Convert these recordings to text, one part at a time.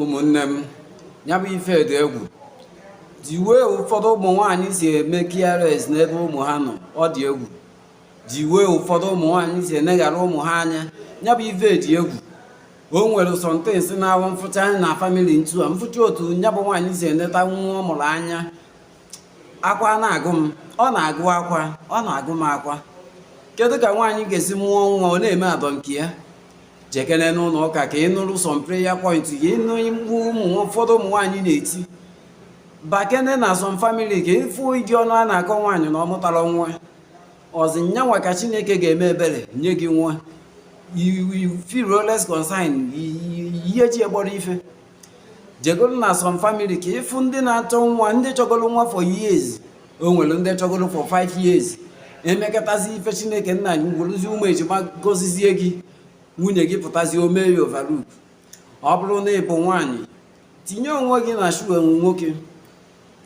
ụmụnne m ya bụ ife dị egwu the way ụfọdụ ụmụ nwaanyị si eme careless n'ebe ụmụ ha nọ ọ dị egwu the way ụfọdụ ụmụ nwaanyị si eneghara ụmụ ha anya ya bụ ife dị egwu o nwere some things na-awụ m fụcha anyị na family ntu a m fụcha otu ya bụ nwaanyị si eneta nwa ọ mụrụ anya akwa na-agụ m ọ na-agụ akwa ọ na-agụ m akwa kedu ka nwaanyị ga-esi mụọ nwa ọ na-eme adọ nke ya jekene n'ụlọ ụka ka ị nụrụ some prayer point ka ị nụ mkpu ụmụ ụfọdụ ụmụ nwaanyị na-eti bakene na some family ka ị fụ ụdị ọnụ a na-akọ nwaanyị na ọ mụtarọ nwa ọzi nyanwa ka chineke ga-eme ebere nye gị nwa you you feel less concern ihe ji e kpọrọ ife jegoro na some family ka ị fụ ndị na-achọ nwa ndị chọgoro nwa for years o nwere ndị chọgoro for 5 years e mekatazi ife chineke nna anyị werezi ụmụ ejima gọzizie gị nwunye gị pụtazi o mee ya overlook ọ bụrụ na ị bụ nwaanyị tinye onwe gị na shoe nwoke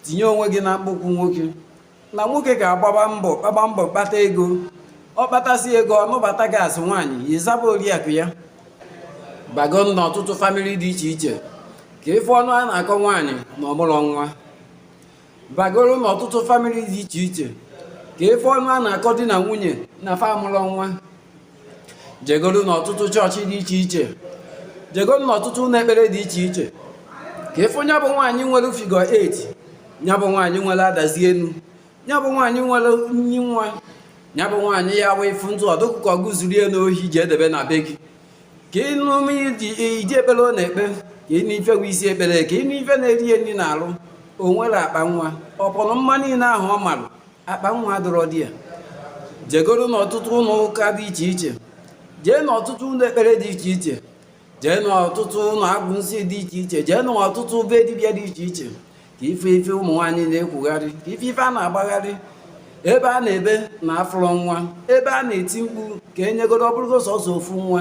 tinye onwe gị na akpụkwụ nwoke na nwoke ga-agbaba mbọ gbaba mbọ kpata ego ọ kpatasị ego ọ nụbata gị as nwaanyị ya ị zaba oriakụ ya bago na ọtụtụ family dị iche iche ka ị fụ ọnụ a na-akọ nwaanyị na ọ mụrọ nwa bagoro na ọtụtụ family dị iche iche ka ị fụ ọnụ a na-akọ di na nwunye na fa amụrọ nwa jegoro n'ọtụtụ chọọchị dị iche iche jegoro n'ọtụtụ ụlọ ekpere dị iche iche ka ị fụ ya bụ nwaanyị nwere figure 8 ya bụ nwaanyị nwere adazi enu ya bụ nwaanyị nwere nni nwa ya bụ nwaanyị ya wee fụ ntụ ọ dị gị ka gị zuru ya n'ohi je debe na be gị ka ị nụ ụdị ekpere ọ na-ekpe ka ị nụ ife bụ isi ekpere ka ị nụ ife na-eri ya nri n'arụ o nwerọ akpa nwa upon mma niile ahụ ọ marụ akpa nwa adịrọ there jegoro n'ọtụtụ ụlọ ụka dị iche iche jee n'ọtụtụ ụlọ ekpere dị iche iche jee n'ọtụtụ ụlọ agwọ nsị dị iche iche jee n'ọtụtụ be dibịa dị iche iche ka ị fụ ife ụmụ nwaanyị na-ekwugharị ka ị fụ ife a na-agbagharị ebe a na-ebe na afụrọ nwa ebe a na-eti mkpu ka e nyegodo ọ bụrụgo sọsọ ofu nwa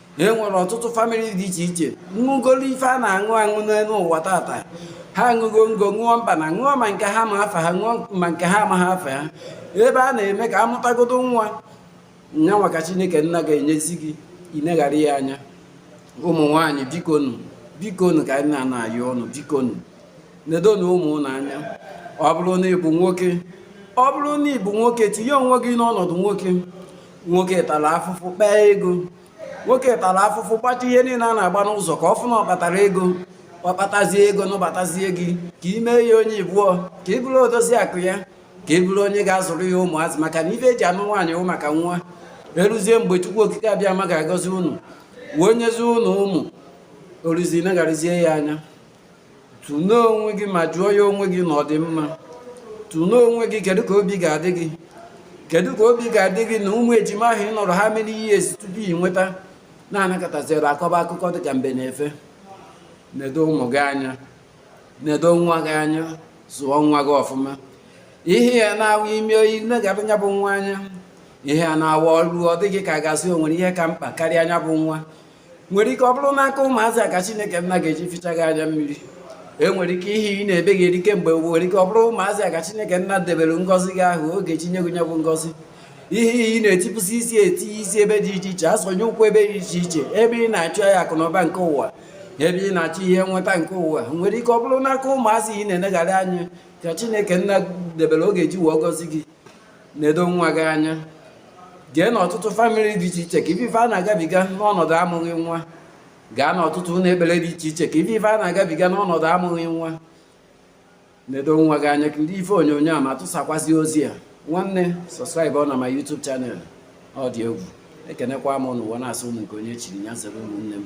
e nwere ọtụtụ family dị iche iche ṅụgoro ife a na-aṅụ aṅụ n'elu ụwa tata ha aṅụgo ngo ṅụọ mba na ṅụọ ma nke ha ma afa ha ṅụọ ma nke ha amaghị afa ha ebe a na-eme ka a mụtagodo nwa nya maka chineke nna ga-enyezi gị i neghara ya anya ụmụ nwaanyị bikonu bikonu ka anyị na-ana ayọ unu bikonu nedonu ụmụ unu anya ọ bụrụ na ị bụ nwoke ọ bụrụ na ị bụ nwoke tinye onwe gị n'ọnọdụ nwoke nwoke tara afụfụ kpaa ego nwoke tara afụfụ gbacha ihe niile a na-agba n'ụzọ ka ọ fụ na ọ kpatara ego ọ kpatazie ego nụbatazie gị ka ị mee ya onye ibụọ ka ị bụrụ odozi akụ ya ka ị bụrụ onye ga-azụrụ ya ụmụazị maka na ife eji anụ nwaanyị wụ maka nwa eruzie mgbe chukwu okike abịama ga-agọzi unu wee nyezie unu ụmụ o ruzie negharịzie ya anya tụlee onwe gị ma jụọ ya onwe gị na ọ dị mma tụlee onwe gị kedu ka obi ga-adị gị kedu ka obi ga-adị gị na ụmụ ejima ahụ ị nọrọ ha mere ihe esi tupu ị nweta na-anakọtaziri akọba akụkọ dịka mbe na efe nedo ụmụ gị anya nedo nwa gị anya zụọ nwa gị ọfụma ihe ya na-awụ ime oyi nne ga-abụ nya bụ nwa anya ihe a na-awa ọrụ ọ dịghị ka a ga-asị o nwere ihe ka mkpa karịa nya bụ nwa nwere ike ọ bụrụ n'aka ụmụazị a ka chineke nna ga-eji fichaa gị anya mmiri enwere ike ihe ị na-ebe eri kemgbe nwere ike ọ bụrụ ụmụazị a ka chineke nna debere ngọzi gị ahụ ọ ga-eji nye gị nya bụ ngọzi ihe ihe ị na-etipụsị isi etinye isi ebe dị iche iche asọnye ụkwụ ebe dị iche iche ebe ị na-achụ ya akụ na ụba nke ụwa ebe ị na-achọ ihe nweta nke ụwa nwere ike ọ bụrụ n'aka ụmụazị ị na-enegharị anya ka chineke nna debere ọ ga-eji wee gọzie gị nedo nwa gị anya jee n'ọtụtụ famịlị dị iche iche ka ị fụ ife a na-agabiga n'ọnọdụ amụghị nwa gaa n'ọtụtụ ụlọ ekpere dị iche iche ka ị fụ ife a na-agabiga n'ọnọdụ amụghị nwa nedo nwa gị anya kirie ife onyonyo a ma tụsakwazie ozi a nwanne subscribe ọ na my YouTube channel ọ dị egwu ekenekwa m unu wee na-asị unu nke onye chiri nya zere ụmụnne m